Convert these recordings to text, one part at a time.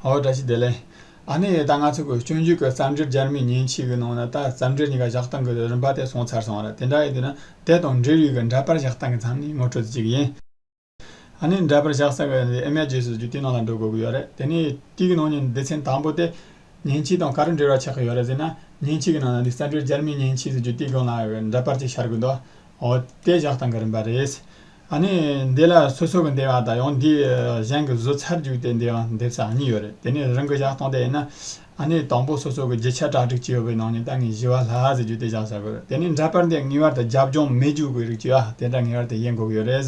ཨོ་བཀྲ་ཤིས་བདེ་ལེགས། ཨ་ནེ་ཡེ་ད་ང་ཚོ་གོས་སྤྱོད་འཇུག་གི་བརྩམས་ཆོས་སྦྱར་མི་ཉིན་གཅིག་གི་ནང་ན་ད་བརྩམས་ཆོས་གཉིས་ཀ་བཞག་སྟངས་ཀྱི་རིམ་པ་དེ་སོང་ཚར་སོང་ར་དེ་འདྲ་ཡིན་དུས་ན་དེ་དང་འབྲེལ་ཡོད་ཀྱི་འདྲ་པར་བཞག་སྟངས་ཀྱི་མཚམས་ནི་ངོ་སྤྲོད་དེ་གཅིག་ཡིན། ཨ་ནེ་འདྲ་པར་བཞག་ས་གི་འདི་ཨེ་མའི་རྗེས་སུ་རྒྱུ་དེའི་ནང་ལ་འགྲོ་དགོས་ཀྱི་ཡོད་རེད་དེ་ནས་དཀྱིལ་གྱི་ནང་ཉིན་སྡེ་ཚན་དང་པོ་སྟེ། ཉིན་གཅིག་དང་ག་རེ་འབྲེལ་བ་ཆགས་ཀྱི་ཡོད་རེད་ཟེར་ན་ཉིན་གཅིག་གི་ནང་ན་འདི་བརྩམས་ཆོས་སྦྱར་མི་ཉིན་གཅིག་སུ་རྒྱུ་དེའི་སྒང་ལ་འདྲ་པར་གཅིག་ཤར་དགོས་འདུག་ཨོ་དེ་བཞག་སྟངས་ཀྱི་རིམ་པ་རེད། ཨ་ནི་འདི་ལ་སོ་སོ་གི་འདེབས་ཨ་ད་ཡང་འདི་གཞན་གི་བཟོ་ཚར་རྒྱུགས་ཏེ་འདི་ཡང་འདེབས་ས་གཉིས་ཡོད་རེད་དེ་ནས་རང་གི་བཞག་སྟངས་དེ་ཡིན་ན་ཨ་ནི་དང་པོ་སོ་སོ་གི་བརྗིད་ཆགས་གྲ་སྒྲིག་བྱས་ཡོད་པའི་ནང་ནས་ད་ངས་བཞི་བ་ལྷ་ཟེར་རྒྱུ་དེ་བཞག་ས་དགོས་རེད་དེ་ནས་འདྲ་པར་འདི་ངེས་བར་དུ་རྒྱབ་ལྗོངས་མེད་རྒྱུགས་དགོས་རིགས་བྱོས་ཨ་དེ་འདྲ་ངེས་བར་དུ་དབྱེ་འགོག་ཡོད་རེད་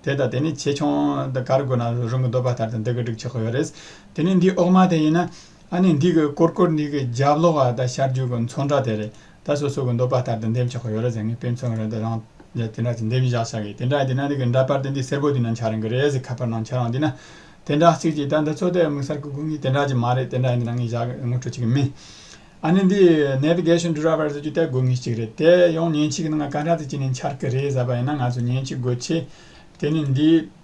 དེ་དང་དེ་ནས་ཆེ་ཆུང་འདི་གར་དགོས་ན་རང་གི་འདོད་པ་ལྟར་དུ་འདི་གི་སྒྲིག་ཆོག་ཡོད་རེད་དེ་ནས་འདི་འོག་མ་དེ་ཡིན་ན་ཨ་ནི་འདི་གི་སྐོར་སྐོར་འདི་གི་རྒྱབ་ལོགས་ཨ་ད་ཤར་རྒྱུགས་གི་མཚོ་འདྲ་དེ་རེད་ད་སོ་སོ་གི་འདོད་པ་ལྟར་དུ་འདེམས་ཆོག་གི་ཡོད་རེད་ཟེར་ངེས་དཔེ་མཚོན་རེད་དེ་རང་རྒྱལ་དེ་འདྲ་ཅིག་འདེམས་བཞག་བྱ་དགོས་དེ་འདྲ་ཡིན་དེ་ན་འདི་གི་འདྲ་པར་དེ་འདི་སེར་པོ་དེ་ན་འཆར་རན་གི་རེད་ཟེར་ཁ་པར་ནང་འཆར་ཨང་དེ་ན་དེ་འདྲ་ཚིག་ཅིག་ད་འདི་ཚོ་དེ་དམིགས་བསལ་གི་དགོས་ངེས་དེ་འདྲ་ཅིག་མ་རེད་དེ་འདྲ་ཡིན་དེ་ན་ངས་བཞག་ངོ་སྤྲོད་བྱེད་ཀྱི་མིན། ཨ་ནི་འདི Navigation Driver ཟེར་རྒྱུ་དེ་དགོས་ངེས་ཅིག་རེད་དེ་ཡང་མཉེན་ཆས་ཀྱི་ནང་ང་ག་འདྲ་ཚིག་ཅིག་ནས་འཆར་གི་རེད་ཟེར་བ་ཡིན་ན་ང་ཚོས་མཉེན་ཆས་དགོས་ཆེད་དེ་ནི་འདི་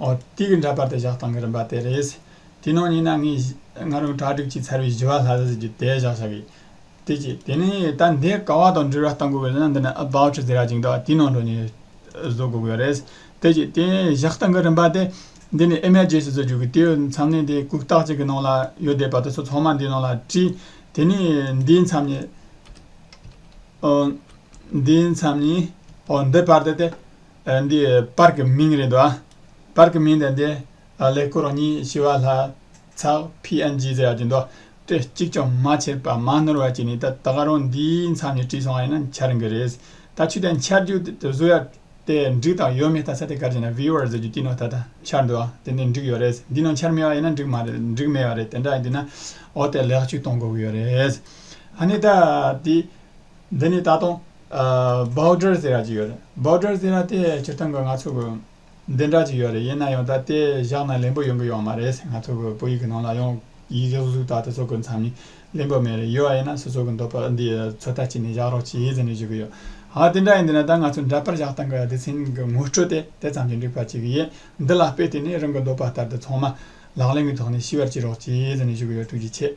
ཨོ། དུས་ཀྱི་འདྲ་པར་དུ་བཞག་སྟངས་ཀྱི་རིམ་པ་དེ་རེད། དེའི་ནང་ཉིད་ན་ངས་ང་རང་གྲ་སྒྲིག་བྱས་ཚར་བའི་བཞི་བ་ལྷ་ས་ཟེར་གྱི་དེ་བཞག་བྱ་གི། དེ་ཅི། དེ་ནི་ད་འདི་ག་བ་དང་འབྲེལ་བ་བལྟ་དགོས་པ་ལས་ན་འདི་ནི About ཟེར་ར་ཅིག་འདུག་དེའི་ནང་དུ་ནི་བཟོ་དགོས་ཀྱི་རེད། དེ་ཅི། དེ་བཞག་སྟངས་ཀྱི་རིམ་པ་དེ། འདི་ནི་ཨེ་མའི་རྗེས་སུ་བཟོ་རྒྱུ་གི་དེའི་མཚམས་ནི་དེའི་གུག་རྟགས་གཅིག་གི་ནང་ལ་ཡོད་བསྡད་པ་དེ་ཚོ་ཚང་མ་འདིའི་ནང་ལ་བྲིས། དེ་ནི་འདིའི་མཚམས་ནི། ཨོ། འདིའི་མཚམས་ནི། ཨོ་འདི་བར་དུ་དེ། འདི་པར་གྱི་མིང་རེད་འདུག་པར་གྱི་མིང་དེ་འདི་ལས་སྐུ་རང་ཉིད་ཞི་བ་ལྷ་ཚགས PNG ཟེར་ཡག་གྱི་འདུག་ཏྲེ་གཅིག་ཀྱང་མ་བྱས་པར་མ་ནོར་བ་གཅིག་ནི་ད་ད་ག་རང་འདིའི་མཚམས་ནས་བྲིས་སོང་བ་ཡིན་ན་འཆར་ཡོང་གི་རེད། ད་ཆུ་དེ་འཆར་རྒྱུ་དེ་བཟོ་ཡག་དེ་འགྲིག་དང་ཡོད་མེད་ད་ས་དེ་གར་བྱས་ན Viewer ཟེར་རྒྱུ་དཀྱིལ་ནང་ད་ད་འཆར་འདུག་དེ་འདི་འགྲིག་ཡོད་རེད་འདི་ནང་འཆར་མེད་བ་ཡིན་ན་འགྲིག་མ་རེད་འགྲིག་མེད་བ་རེད་དེ་འདྲ་ཡིན་དུས་ན་འོ་དེ་ལེགས་བཅོས་གཏོང་དགོས་ཀྱི་ཡོད་རེད། ཧ་ནི་ད་འདི་འདི་ནི་ད་དུང། Border ཟེར་ཡག་ཅིག་ཡོད་རེད Border ཟེར་ཡག་དེ་སྤྱིར་བཏང་གི་ང་ཚོ་གི་བདེན་གྲགས་ཅིག་ཡོད་རེད་ཡིན་ན་ཡང་ད་དེ་བཞག་ན་ལེན་པོ་ཡོང་གི་ཡོང་མ་རེད་ང་ཚོ་གི་བོད་ཡིག་གི་ནང་ལ་ཡང་ཡིག་གཟུགས་གཟུགས་དག་དེ་ཚོ་གི་མཚམས་ནི་ལེན་པོ་མེད་རེད་ཡོད་བ་ཡིན་ན་སོ་སོ་གི་འདོད་པ་འདི་ཚོད་ལྟ་བྱེད་ནས་བཞག་རོགས་བྱས་ཟེར་ནས་བཞུགས་གི་ཡོད་ཧ་དེ་འདྲ་ཡིན་དུས་ན་ད་ང་ཚོ་འདྲ་པར་བཞག་སྟངས་གི་སྡེ་ཚན་གི་ངོ་སྤྲོད་དེ་དེ་ཙམ་གྱིས་འགྲིག་པ་ཅིག་གི་ཡིན་འདི་ལ་དཔེ་དེ་ནས་རང་གི་འདོད་པ་ལྟར་དུ་ཚང་མ་ལག་ལེན་གི་ཐོག་ནས་ཤི་བར་བྱེད་རོགས་བྱས་ཟེར་ནས་བཞུགས་གི་ཡོད་ཐུགས་རྗེ་ཆེ།